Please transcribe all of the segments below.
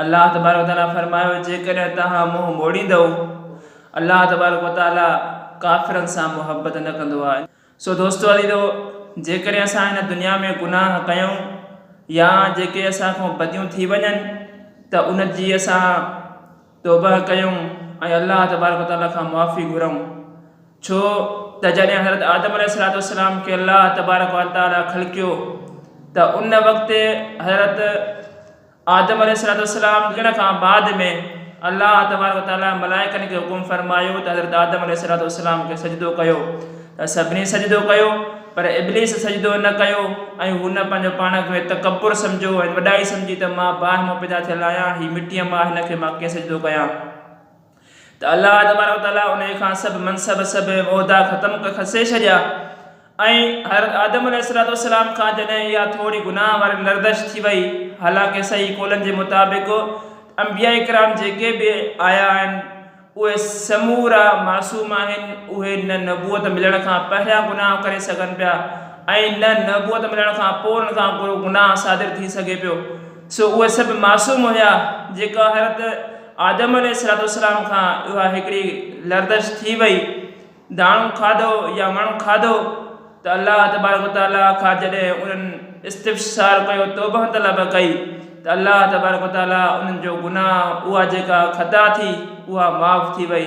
الله تبارڪ وتعاليٰ فرمايو، جيڪڏهن توهان منهن موڙيندؤ، الله تبارڪ وتعاليٰ ڪافرن سان محبت نه ڪندو آهي. سو دوستو عزيزو! جيڪڏهن اسان هن دنيا ۾ گناهه ڪيون يا جيڪي اسان کان بديون ٿي وڃن ته ان جي اسان توبهه ڪيون ۽ الله تبارڪ وتعاليٰ کان معافي گهرئون. ڇو ته جڏهن حضرت آدم عليه السلام کي الله تبارڪ وتعاليٰ خلقيو ته ان وقت حضرت آدم عليه السلام ڏيڻ کان بعد ۾ الله تبارڪ و تعاليٰ ملائڪن کي حڪم فرمايو ته حضرت آدم عليه السلام کي سجدو ڪيو ته سڀني سجدو ڪيو پر ابليس سجدو نه ڪيو ۽ هن پنهنجو پاڻ کي تڪبر سمجهيو ۽ وڏائي سمجهي ته مان باهه مان پيدا ٿيل آهيان هي مٽيء مان هن کي مان ڪيئن سجدو ڪيان. ته الله تبارڪ و تعاليٰ انهي کان سڀ منصب، سڀ عهدا ختم کسي ڇڏيا ۽ حضرت آدم عليه السلام کان جڏهن اها ٿوري گناهه واري لرزش ٿي وئي، حالانڪه صحيح قولن جي مطابق انبياء ڪرام جيڪي به آيا آهن اهي سمورا معصوم آهن، اهي نه نبوت ملڻ کان پهريان گناهه ڪري سگهن پيا ۽ نه نبوت ملڻ کان پوء انهن کان ڪو گناهه صادر ٿي سگهي پيو، سو اهي سڀ معصوم هيا جيڪا حضرت. آدم عليه السلام کان اها هڪڙي لرزش ٿي وئي، داڻو کاڌو يا وڻ کاڌو ته الله تبارڪ و تعاليٰ کان جڏهن انهن استفسار ڪيو توبه طلب ڪئي ته الله تبارڪ و تعاليٰ انهن جو گناهه اها جيڪا خطا ٿي اها معاف ٿي وئي.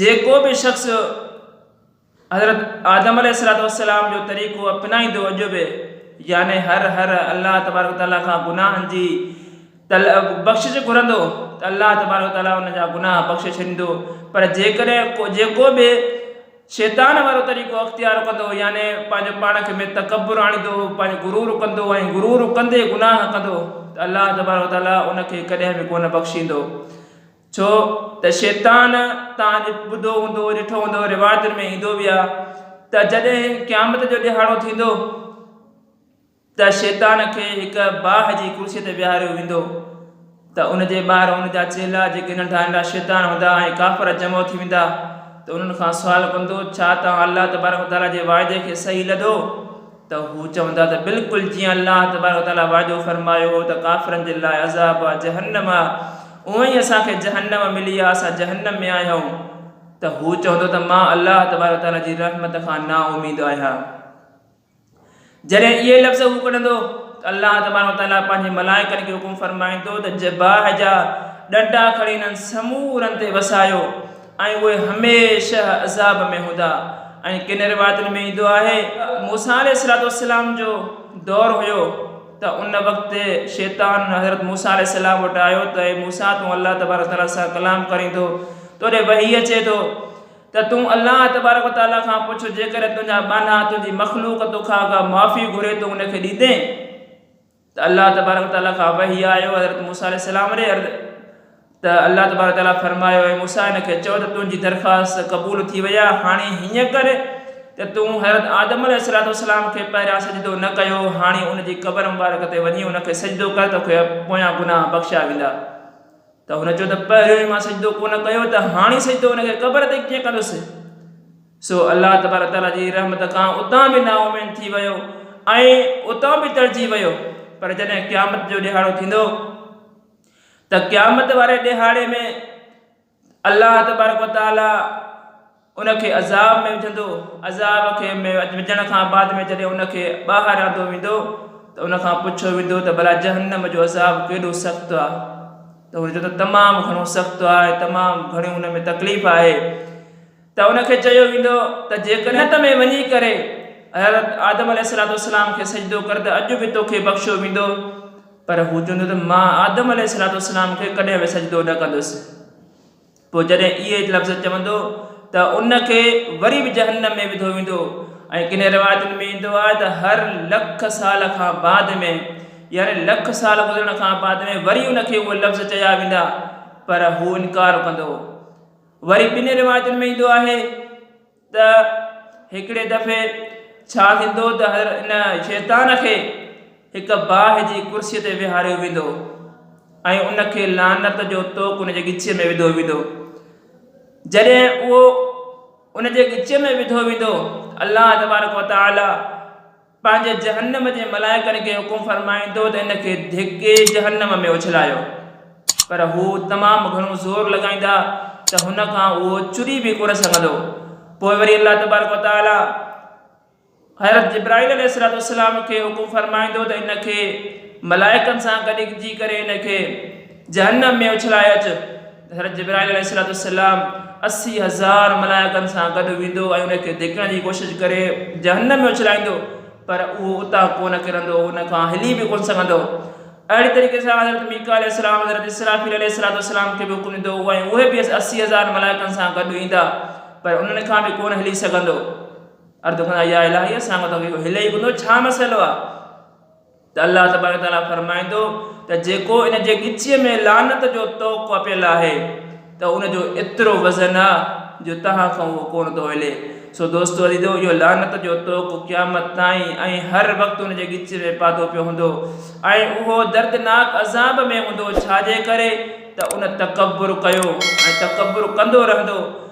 جيڪو به شخص حضرت آدم عليه السلام جو طريقو اپنائيندو اڄ به يعني هر هر الله تبارڪ وتعالي کان گناهن جي بخشش گهرندو ته الله تبارڪ وتعالي ان جا گناهه بخشي ڇڏيندو پر جيڪڏهن ڪو جيڪو به شيطان وارو طريقو اختيار ڪندو يعني پنهنجو پاڻ کي ۾ تڪبر آڻيندو پنهنجو غرور ڪندو ۽ غرور ڪندي گناهه ڪندو ته الله تبارڪ وتعالي ان کي ڪڏهن به ڪونه بخشيندو ڇو ته شيطان، توهان اڄ ٻڌو هوندو، ڏٺو هوندو، روايتن ۾ ايندو به آهي ته جڏهن قيامت جو ڏيهاڙو ٿيندو ته شيطان کي هڪ باهه جي ڪرسيء تي ويهاريو ويندو ته ان جي ٻاهر هن جا چيلا جيڪي ننڍا ننڍا شيطان هوندا ۽ ڪافر جمع ٿي ويندا ته انهن کان سوال ڪندو، ڇا توهان الله تبارڪ و تعاليٰ جي واعدي کي صحيح لڌو؟ ته هو چوندا ته بلڪل جيئن الله تبارڪ و تعالي وعدو فرمايو هو ته ڪافرن جي لاء عذاب آهي جهنم اهو ئي اسان کي جهنم ملي آهي اسان جهنم ۾ آهيون ته هو چوندو ته مان الله تبارڪ و تعالي جي رحمت کان نااميد آهيان جڏهن اهي لفظ هو ڪڍندو ته الله تبارڪ و تعالي پنهنجي ملائڪن کي حڪم فرمائيندو ته جباهه جا ڏنڊا کڻي انهن سمورن تي وسايو ۽ اهي هميشه عذاب ۾ هوندا ۽ ڪن روايتن ۾ ايندو آهي موسيٰ عليه السلام جو دور هيو ته ان وقت شيطان حضرت موسيٰ عليه السلام وٽ آيو ته اي موسيٰ تون الله تبارڪ وتعالي سان ڪلام ڪرين ٿو توڏي وحي اچي ٿو ته تون الله تبارڪ وتعالي کان پڇ جيڪڏهن تنهنجا ٻانها تنهنجي مخلوق توکان ڪا معافي گهري تون ان کي ڏيندين؟ ته الله تبارڪ و تعاليٰ کان وحي آيو حضرت موسيٰ عليه السلام ري عرض ته الله تبارڪ و تعاليٰ فرمايو اي موسيٰ هن کي چؤ ته تنهنجي درخواست قبول ٿي وئي آهي هاڻي هيئن ڪر ته تون حضرت آدم عليه السلام کي پهريان سجدو نه ڪيو هو هاڻي ان جي قبر مبارڪ تي وڃي ان کي سجدو ڪر توکي پويان گناهه بخشيا ويندا. ته هن چيو ته پهريون ئي مان سجدو ڪونه ڪيو ته هاڻي سجدو ان کي قبر تي ڪيئن ڪندس؟ سو الله تبارڪ وتعاليٰ جي رحمت کان اتان به نااميد ٿي ويو ۽ اتان به ٽڙجي ويو پر جڏهن قيامت جو ڏيهاڙو ٿيندو ته قيامت واري ڏيهاڙي ۾ الله تبارڪ وتعاليٰ ان کي عذاب ۾ وجهندو، عذاب کي ۾ وجهڻ کان بعد ۾ جڏهن ان کي ٻاهر آندو ويندو ته ان کان پڇيو ويندو ته ڀلا جهنم جو عذاب ڪيڏو سخت آهي ته هو چوندو تمام گهڻو سخت آهي ۽ تمام گهڻي ان ۾ تڪليف آهي ته ان کي چيو ويندو ته جيڪڏهن جنت ۾ وڃي ڪري حضرت آدم عليه الصلوة والسلام کي سجدو ڪر ته اڄ به توکي بخشيو ويندو پر هو چوندو ته مان آدم عليه الصلوة والسلام کي ڪڏهن به سجدو نه ڪندس پوء جڏهن اهي لفظ چوندو ته ان کي وري به جهنم ۾ وڌو ويندو ۽ ڪنهن روايتن ۾ ايندو آهي ته هر لک سال کان بعد ۾ يعني لک سال گذرڻ کان بعد ۾ وري ان کي اهي لفظ چيا ويندا پر هو انڪار ڪندو وري ٻن روايتن ۾ ايندو آهي ته هڪڙي دفعي ڇا ٿيندو ته هر ان شيطان کي هڪ باهه جي ڪرسيء تي ويهاريو ويندو ۽ ان کي لعنت جو توڪ ان جي ڳچيء ۾ وڌو ويندو. جڏهن اهو ان جي ڳچيء ۾ وڌو ويندو ته الله تبارڪ و تعاليٰ پنهنجي جهنم جي ملائڪن کي حڪم فرمائيندو ته ان کي ڌڪي جهنم ۾ اڇلايو، پر هو تمام گهڻو زور لڳائيندا ته هن کان اهو چري به ڪونه سگهندو، پوء وري الله تبارڪ و تعالي حضرت جبرائيل عليه السلام کي حڪم فرمائيندو ته ان کي ملائڪن سان گڏجي ڪري ان کي جهنم ۾ اڇلائي اچ. حضرت جبرائيل عليه السلام اسي هزار ملائڪن سان گڏ ويندو ۽ ان کي ڌڪڻ جي ڪوشش ڪري جهنم ۾ اڇلائيندو پر اهو اتان ڪونه ڪرندو ان کان هلي به ڪونه سگهندو اهڙي طريقي سان حضرت ميڪا عليه السلام حضرت اسرافيل عليه السلام کي به حڪم ڏيندو هو ۽ اهي به اسي هزار ملائڪن سان گڏ ايندا پر انهن کان به ڪونه هلي سگهندو عرض ڪندا يا الٰهي اسان کان ته اهو هلي ئي ڪونه ٿو ڇا مسئلو آهي ته الله تبارڪ تعاليٰ فرمائي ٿو ته جيڪو ان جي ڳچيء ۾ لعنت جو طوق وپيل آهي ته ان جو ايترو وزن آ جو توهان کان اهو ڪونه ٿو هلي سو دوستو عزيزو اهو لعنت جو طوق قيامت تائين ۽ هر وقت ان جي ڳچيء ۾ پاتو پيو هوندو ۽ اهو دردناڪ عذاب ۾ هوندو ڇاجي ڪري ته ان تڪبر ڪيو ۽ تڪبر ڪندو رهندو